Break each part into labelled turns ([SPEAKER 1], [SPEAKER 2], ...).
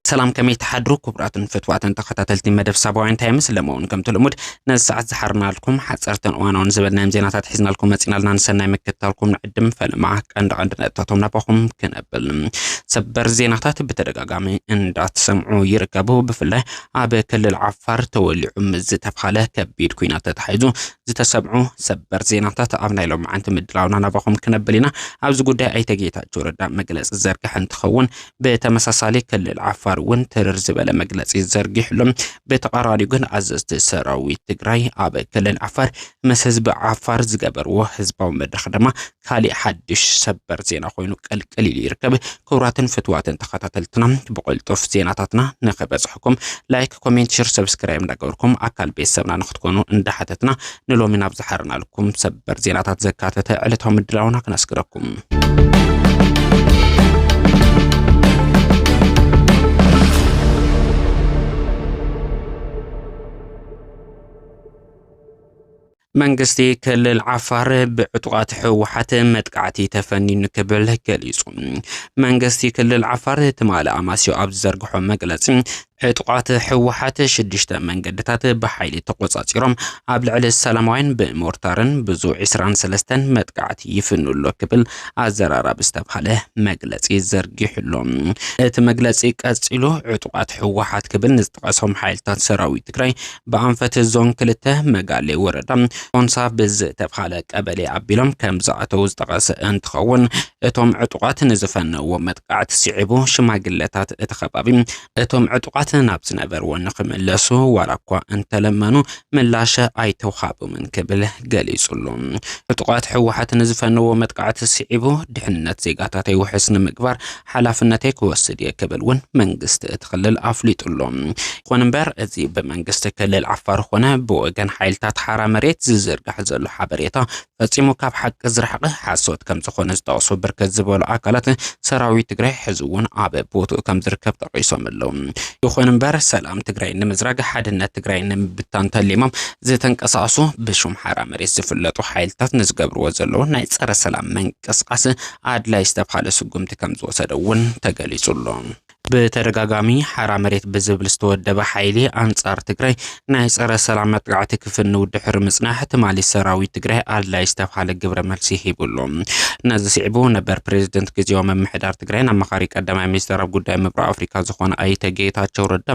[SPEAKER 1] ሰላም ከመይ ተሓድሩ ክቡራትን ፍትዋትን ተኸታተልቲ መደብ ሳባውያን ታይምስ ለመውን ከምቲ ልሙድ ነዚ ሰዓት ዝሓርናልኩም ሓፀርትን እዋናውን ዝበልናዮም ዜናታት ሒዝናልኩም መፂናልና ንሰናይ ምክትታልኩም ንዕድም ፈለማ ቀንዲ ቀንዲ ነጥታቶም ናባኹም ክነብል ሰበር ዜናታት ብተደጋጋሚ እንዳትሰምዑ ይርከቡ ብፍላይ ኣብ ክልል ዓፋር ተወሊዑ ምስ ዝተብሃለ ከቢድ ኩናት ተታሒዙ ዝተሰምዑ ሰበር ዜናታት ኣብ ናይ ሎማዓንቲ ምድላውና ናባኹም ክነብል ኢና። ኣብዚ ጉዳይ ኣይተ ጌታቸው ረዳ መግለፂ ዝዘርግሐ እንትኸውን ብተመሳሳሊ ክልል ዓፋር እውን ትርር ዝበለ መግለፂ ዘርጊሕሉ። ብተቃራኒው ግን ኣዘዝቲ ሰራዊት ትግራይ ኣብ ክልል ዓፋር ምስ ህዝቢ ዓፋር ዝገበርዎ ህዝባዊ መድረኽ ድማ ካሊእ ሓድሽ ሰበር ዜና ኮይኑ ቀልቀል ኢሉ ይርከብ። ክቡራትን ፍትዋትን ተኸታተልትና ብቕልጡፍ ዜናታትና ንክበፅሕኩም ላይክ፣ ኮሜንት፣ ሽር፣ ሰብስክራይብ እንዳገበርኩም ኣካል ቤተሰብና ንክትኮኑ እንዳሓተትና ንሎሚ ናብ ዝሓርናልኩም ሰበር ዜናታት ዘካተተ ዕለታዊ ምድላውና ክነስግረኩም። መንግስቲ ክልል ዓፋር ብዕጡቓት ህወሓት መጥቃዕቲ ተፈኒኑ ክብል ገሊጹ። መንግስቲ ክልል ዓፋር ትማሊ ኣማስዮ ኣብ ዝዘርግሖ መግለጺ ዕጡቓት ህወሓት ሽዱሽተ መንገድታት ብሓይሊ ተቖጻጺሮም ኣብ ልዕሊ ሰላማውያን ብሞርታርን ብዙ 23ን መጥቃዕቲ ይፍኑ ኣሎ ክብል ኣዘራራቢ ዝተባሃለ መግለጺ ዘርጊሑሎ እቲ መግለጺ ቀጺሉ ዕጡቓት ህወሓት ክብል ንዝጠቐሶም ሓይልታት ሰራዊት ትግራይ ብኣንፈት ዞን ክልተ መጋሌ ወረዳ ኦንሳ ብዝተብሃለ ቀበሌ ኣቢሎም ከም ዝኣተው ዝጠቐሰ እንትኸውን እቶም ዕጡቓት ንዝፈነዎ መጥቃዕቲ ስዒቡ ሽማግለታት እቲ ከባቢ እቶም ዕጡቓት ናብ ዝነበርዎ ንክምለሱ ዋላ እኳ እንተለመኑ ምላሽ ኣይተውሃቦምን ክብል ገሊጹሉ። ዕጡቓት ህወሓት ንዝፈነዎ መጥቃዕቲ ስዒቡ ድሕንነት ዜጋታት ውሕስ ንምግባር ሓላፍነተይ ክወስድ እየ ክብል እውን መንግስቲ እቲ ክልል ኣፍሊጡ ኣሎ። ይኹን እምበር እዚ ብመንግስቲ ክልል ዓፋር ኾነ ብወገን ሓይልታት ሓራ መሬት ዝዝርጋሕ ዘሎ ሓበሬታ ፈፂሙ ካብ ሓቂ ዝረሓቐ ሓሶት ከም ዝኾነ ዝጠቕሱ ብርክት ዝበሉ ኣካላት ሰራዊት ትግራይ ሕዚ እውን ኣብ ቦትኡ ከም ዝርከብ ጠቒሶም ኣለዉ። ይኹን እምበር ሰላም ትግራይ ንምዝራግ ሓድነት ትግራይ ንምብታን ተሊሞም ዝተንቀሳቐሱ ብሹም ሓራ መሬት ዝፍለጡ ሓይልታት ንዝገብርዎ ዘለዉ ናይ ፀረ ሰላም ምንቅስቓስ ኣድላይ ዝተብሃለ ስጉምቲ ከምዝወሰደ እውን ተገሊፁ ኣሎ። ብተደጋጋሚ ሓራ መሬት ብዝብል ዝተወደበ ሓይሊ ኣንፃር ትግራይ ናይ ፀረ ሰላም መጥቃዕቲ ክፍንው ድሕሪ ምፅናሕ ትማሊ ሰራዊት ትግራይ ኣድላይ ዝተብሃለ ግብረ መልሲ ሂቡ ኣሎ። ነዚ ስዒቡ ነበር ፕሬዝደንት ግዝያዊ ምምሕዳር ትግራይን ኣማኻሪ ቀዳማይ ሚኒስትር ኣብ ጉዳይ ምብራቕ ኣፍሪካ ዝኾነ ኣይተ ጌታቸው ረዳ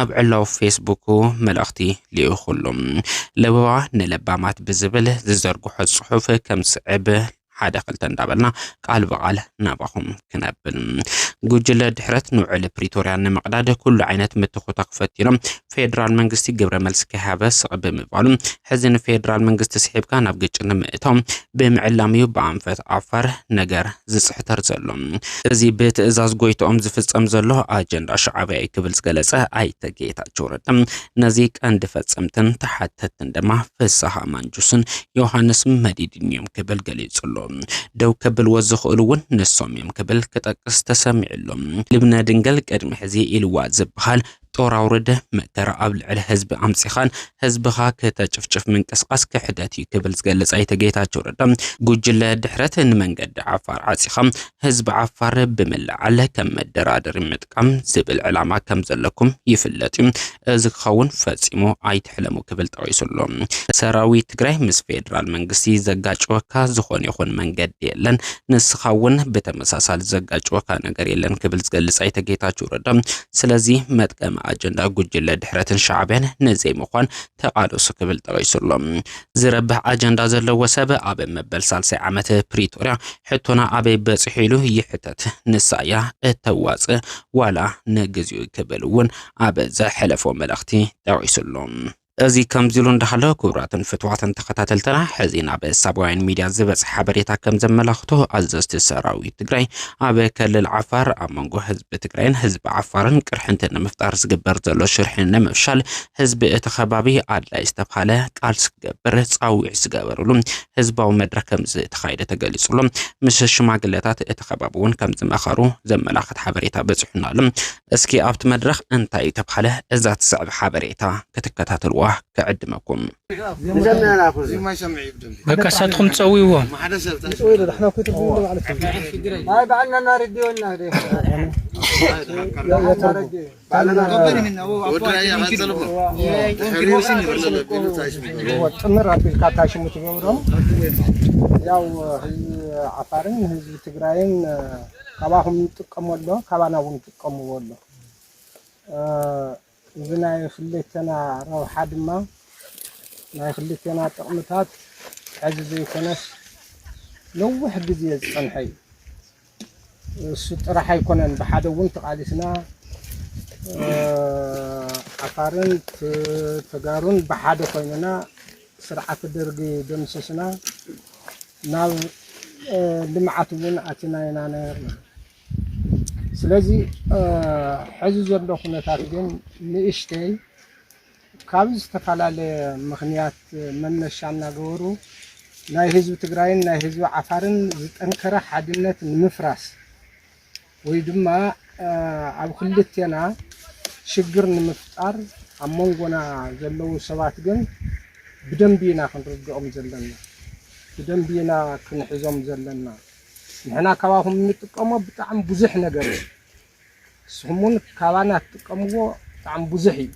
[SPEAKER 1] ኣብ ዕላዊ ፌስቡኩ መልእኽቲ ልኢኹ ኣሎ። ለበዋ ንለባማት ብዝብል ዝዘርግሖ ፅሑፍ ከምዝስዕብ ሓደ ክልተ እንዳበልና ቃል ብቃል ናባኹም ክነብል ጉጅለ ድሕረት ንውዕሊ ፕሪቶርያ ንምቕዳድ ኩሉ ዓይነት ምትኹታኽ ፈቲኖም ፌዴራል መንግስቲ ግብረ መልሲ ከይሃበ ስቕ ብምባሉ ሕዚ ንፌዴራል መንግስቲ ስሒብካ ናብ ግጭት ንምእታው ብምዕላም እዩ ብኣንፈት ዓፋር ነገር ዝፅሕተር ዘሎ እዚ ብትእዛዝ ጎይትኦም ዝፍፀም ዘሎ ኣጀንዳ ሻዕብያ እዩ ክብል ዝገለፀ ኣይተ ጌታቸው ረዳ ነዚ ቀንዲ ፈፀምትን ተሓተትን ድማ ፍስሃ ማንጁስን ዮሃንስ መዲድን እዮም ክብል ገሊጹ ኣሎ። ደው ከብልዎ ዝኽእሉ እውን ንሶም እዮም ክብል ክጠቅስ ተሰሚዑ ኣሎ። ልብነ ድንግል ቅድሚ ሕዚ ኢልዋ ዝበሃል ጦር ኣውርድ፣ መከራ ኣብ ልዕሊ ህዝቢ ኣምጺኻን ህዝብኻ ክተጭፍጭፍ ምንቅስቓስ ክሕደት እዩ ክብል ዝገልጽ ኣይተ ጌታቸው ረዳ ጉጅለ ድሕረት ንመንገዲ ዓፋር ዓጺኻ ህዝቢ ዓፋር ብምልዓል ከም መደራደሪ ከም ዝብል ዕላማ ከም ዘለኩም ይፍለጥ እዩ፣ እዚ ክኸውን ፈጺሙ ኣይትሕለሙ ክብል ጠቒሱ ኣሎ። ሰራዊት ትግራይ ምስ ፌደራል መንግስቲ ዘጋጭወካ ዝኾነ ይኹን መንገዲ የለን፣ ንስኻ እውን ብተመሳሳሊ ዘጋጭወካ ነገር የለን ክብል ዝገልጽ ኣይተ ጌታቸው ረዳ ስለዚ መጥቀሚ ኣጀንዳ ጉጅለ ድሕረትን ሻዕቢያን ንዘይምዃን ተቓለሱ ክብል ጠቒሱ ኣሎ። ዝረብሕ ኣጀንዳ ዘለዎ ሰብ ኣብ መበል ሳልሳይ ዓመት ፕሪቶርያ ሕቶና ኣበይ በፂሑ ኢሉ ይሕተት። ንሳ እያ እተዋፅእ ዋላ ንግዚኡ ክብል እውን ኣብ ዘሕለፎ መልእኽቲ ጠቒሱ ኣሎ። እዚ ከምዚ ኢሉ እንዳሃለ ክቡራትን ፍትዋትን ተኸታተልትና ሕዚ ናብ ሳባውያን ሚድያ ዝበፅሐ ሓበሬታ ከም ዘመላኽቶ ኣዘዝቲ ሰራዊት ትግራይ ኣብ ክልል ዓፋር ኣብ መንጎ ህዝቢ ትግራይን ህዝቢ ዓፋርን ቅርሕንቲ ንምፍጣር ዝግበር ዘሎ ሽርሒ ንምፍሻል ህዝቢ እቲ ከባቢ ኣድላይ ዝተብሃለ ቃልሲ ክገብር ፃውዒት ዝገበርሉ ህዝባዊ መድረኽ ከምዝተኻየደ ተገሊፁ ኣሎ። ምስ ሽማግለታት እቲ ከባቢ እውን ከምዝመኸሩ ዘመላኽት ሓበሬታ በፂሑና ኣሎ። እስኪ ኣብቲ መድረኽ እንታይ ተብሃለ እዛ ትስዕብ ሓበሬታ ክትከታተልዋ ክዕድመኩም።
[SPEAKER 2] በቃ ንሳትኩም
[SPEAKER 3] ትፀውይዎ።
[SPEAKER 4] ጥምር ኣቢልካ እታ ሽሙ ትገብሮ ያው ህዝቢ ዓፋርን ህዝቢ ትግራይን ካባኹም ይጥቀሙ ኣሎ ካባና እውን ይጥቀምዎ ኣሎ እዚ ናይ ክልተና ረብሓ ድማ ናይ ክልተና ጥቕምታት ሕዚ ዘይኮነስ ነዊሕ ግዜ ዝፀንሐ እዩ እሱ ጥራሕ ኣይኮነን ብሓደ እውን ተቓሊስና ዓፋርን ተጋሩን ብሓደ ኮይንና ስርዓት ደርጊ ደምሲስና ናብ ልምዓት እውን ኣቲና ኢና ነርና ስለዚ ሕዚ ዘሎ ኩነታት ግን ንእሽተይ ካብ ዝተፈላለየ ምኽንያት መነሻ እናገበሩ ናይ ህዝቢ ትግራይን ናይ ህዝቢ ዓፋርን ዝጠንከረ ሓድነት ንምፍራስ ወይ ድማ ኣብ ክልቴና ሽግር ንምፍጣር ኣብ መንጎና ዘለዉ ሰባት ግን ብደንቢ ኢና ክንርድኦም ዘለና፣ ብደንቢ ኢና ክንሕዞም ዘለና። ንሕና ካባኹም እንጥቀሞ ብጣዕሚ ብዙሕ ነገር እዩ። ንስኹም ውን ካባና ትጥቀምዎ ብጣዕሚ ብዙሕ እዩ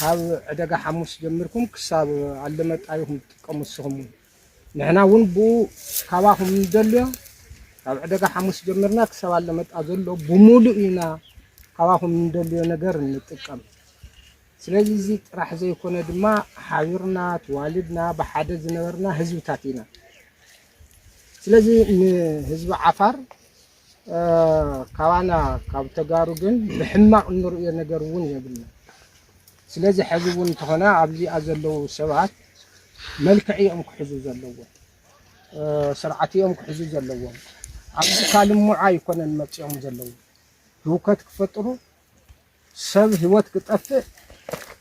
[SPEAKER 4] ካብ ዕደጋ ሓሙስ ጀሚርኩም ክሳብ ኣለመጣ ኢኹም ትጥቀሙ ንስኹም ውን ንሕና ውን ብኡ ካባኹም ንደልዮ ካብ ዕደጋ ሓሙስ ጀሚርና ክሳብ ኣለመጣ ዘሎ ብሙሉእ ኢና ካባኹም ንደልዮ ነገር እንጥቀም ስለዚ እዚ ጥራሕ ዘይኮነ ድማ ሓቢርና ተዋሊድና ብሓደ ዝነበርና ህዝብታት ኢና ስለዚ ንህዝቢ ዓፋር ካባና ካብ ተጋሩ ግን ብሕማቕ እንርእዮ ነገር እውን የብልና። ስለዚ ሐዚ እውን እንተኾነ ኣብዚኣ ዘለዉ ሰባት መልክዕ እዮም ክሕዙ ዘለዎም፣ ስርዓት እዮም ክሕዙ ዘለዎም። ኣብዚ ካልምዓ ኣይኮነን መፂኦም ዘለዉ ህውከት ክፈጥሩ፣ ሰብ ህይወት ክጠፍእ፣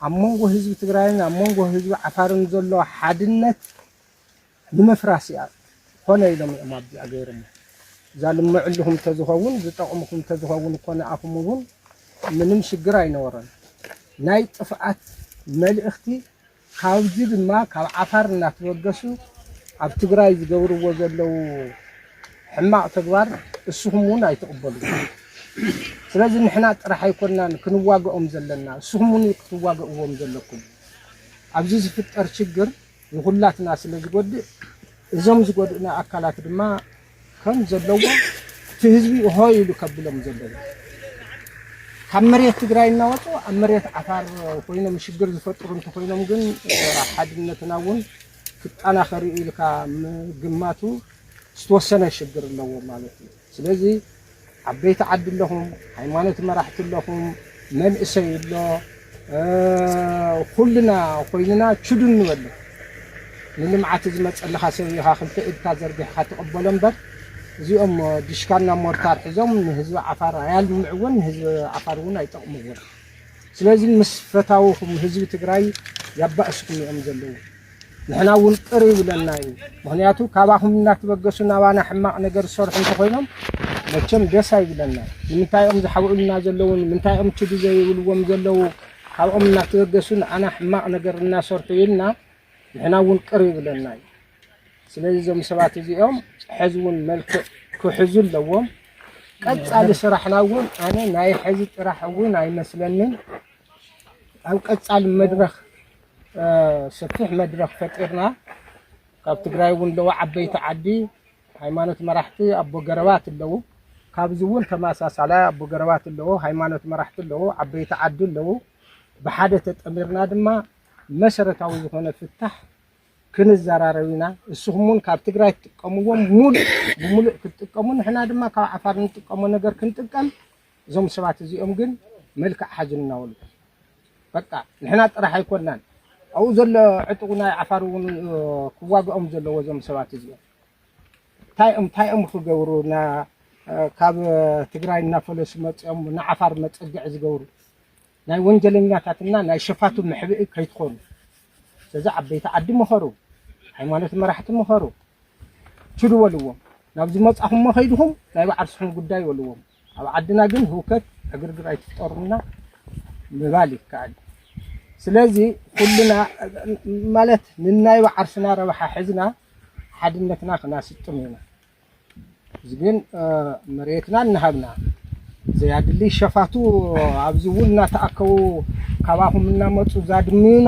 [SPEAKER 4] ኣብ መንጎ ህዝቢ ትግራይን ኣብ መንጎ ህዝቢ ዓፋርን ዘሎ ሓድነት ንምፍራስ እያ ኮነ ኢሎም እዮም ኣብዚኣ ገይሮሞ እዛ ልምዕልኹም ተዝኸውን ዝጠቕምኹም ተዝኸውን እኮ ንኣኹም እውን ምንም ሽግር ኣይነበሮን ናይ ጥፍኣት መልእኽቲ ካብዚ ድማ ካብ ዓፋር እናተበገሱ ኣብ ትግራይ ዝገብርዎ ዘለው ሕማቕ ተግባር እስኹም እውን ኣይትቕበሉን ስለዚ ንሕና ጥራሕ ኣይኮናን ክንዋገኦም ዘለና እስኹም እውን ክትዋገእዎም ዘለኩም ኣብዚ ዝፍጠር ሽግር ንኹላትና ስለ ዝጎድእ እዞም ዝጎድኡና ኣካላት ድማ ከም ዘለዎም እቲ ህዝቢ ሆይ ኢሉ ከብሎም ዘለዎ ካብ መሬት ትግራይ እናወፁ ኣብ መሬት ዓፋር ኮይኖም ሽግር ዝፈጥሩ እንተኮይኖም ግን ሓድነትና እውን ክጠናኸር ኢልካ ምግማቱ ዝተወሰነ ሽግር ኣለዎ ማለት እዩ። ስለዚ ዓበይቲ ዓዲ ኣለኹም ሃይማኖት መራሕቲ ኣለኹም መንእሰይ ኣሎ ኹልና ኾይንና ችዱን ንበሎ ንልምዓት ዝመፀልኻ ሰብ ኢኻ ክልተ ኢድካ ዘርጊሕኻ ትቕበሎ እምበር እዚኦም ዲሽካና ሞርታር ሒዞም ንህዝቢ ዓፋር ኣያልምዕዎን ንህዝቢ ዓፋር እውን ኣይጠቕምዎን ስለዚ ምስ ፈታውኹም ህዝቢ ትግራይ የባእስኩም እዮም ዘለዉ። ንሕና እውን ቅር ይብለና እዩ ምክንያቱ ካባኩም እናተበገሱ ናባና ሕማቅ ነገር ዝሰርሑ እንተኮይኖም መቸም ደስ ኣይብለና ንምንታይ እዮም ዝሓብኡልና ዘለዉ ንምንታይ እዮም ችዱ ዘይብልዎም ዘለዉ ካብኦም እናተበገሱ ንዓና ሕማቅ ነገር እናሰርሑ ኢልና ንሕና እውን ቅር ይብለና እዩ ስለዚ እዞም ሰባት እዚኦም ሕዚ እውን መልክዕ ክሕዙ ኣለዎም ቀፃሊ ስራሕና እውን ኣነ ናይ ሕዚ ጥራሕ እውን ኣይመስለንን ኣብ ቀፃሊ መድረክ ሰፊሕ መድረኽ ፈጢርና ካብ ትግራይ እውን ኣለዉ ዓበይቲ ዓዲ ሃይማኖት መራሕቲ ኣቦ ገረባት ኣለዉ ካብዚ እውን ተመሳሳላይ ኣቦ ገረባት ኣለዉ ሃይማኖት መራሕቲ ኣለዉ ዓበይቲ ዓዲ ኣለዉ ብሓደ ተጠሚርና ድማ መሰረታዊ ዝኾነ ፍታሕ ክንዘራረብ ኢና እስኹም እውን ካብ ትግራይ ትጥቀምዎም ሙሉእ ብሙሉእ ክትጥቀሙ ንሕና ድማ ካብ ዓፋር ንጥቀሞ ነገር ክንጥቀም እዞም ሰባት እዚኦም ግን መልክዕ ሓዙልና ወልቀ በቃ ንሕና ጥራሕ ኣይኮናን ኣብኡ ዘሎ ዕጡቕ ናይ ዓፋር እውን ክዋግኦም ዘለዎ እዞም ሰባት እዚኦም እንታይ እዮም እንታይ እዮም ክገብሩ ካብ ትግራይ እናፈለሱ መፅኦም ንዓፋር መፀግዒ ዝገብሩ ናይ ወንጀለኛታትና ናይ ሸፋቱ መሕብኢ ከይትኾኑ ስለዚ ዓበይቲ ዓዲ ምኸሩ ሃይማኖት መራሕቲ ምኸሩ ችዱ በልዎም ናብ ዝመፃኹሞ ከይድኹም ናይ ባዓርስኹም ጉዳይ በልዎም ኣብ ዓድና ግን ህውከት ዕግርግር ኣይትፍጠሩልና ምባል ይከኣል እዩ። ስለዚ ኩልና ማለት ንናይ ባዓርስና ረብሓ ሕዝና ሓድነትና ክናስጥም ኢና። እዚ ግን መሬትና እናሃብና ዘያድሊ ሸፋቱ ኣብዚ እውን እናተኣከቡ ካባኹም እናመፁ ዛድምዩና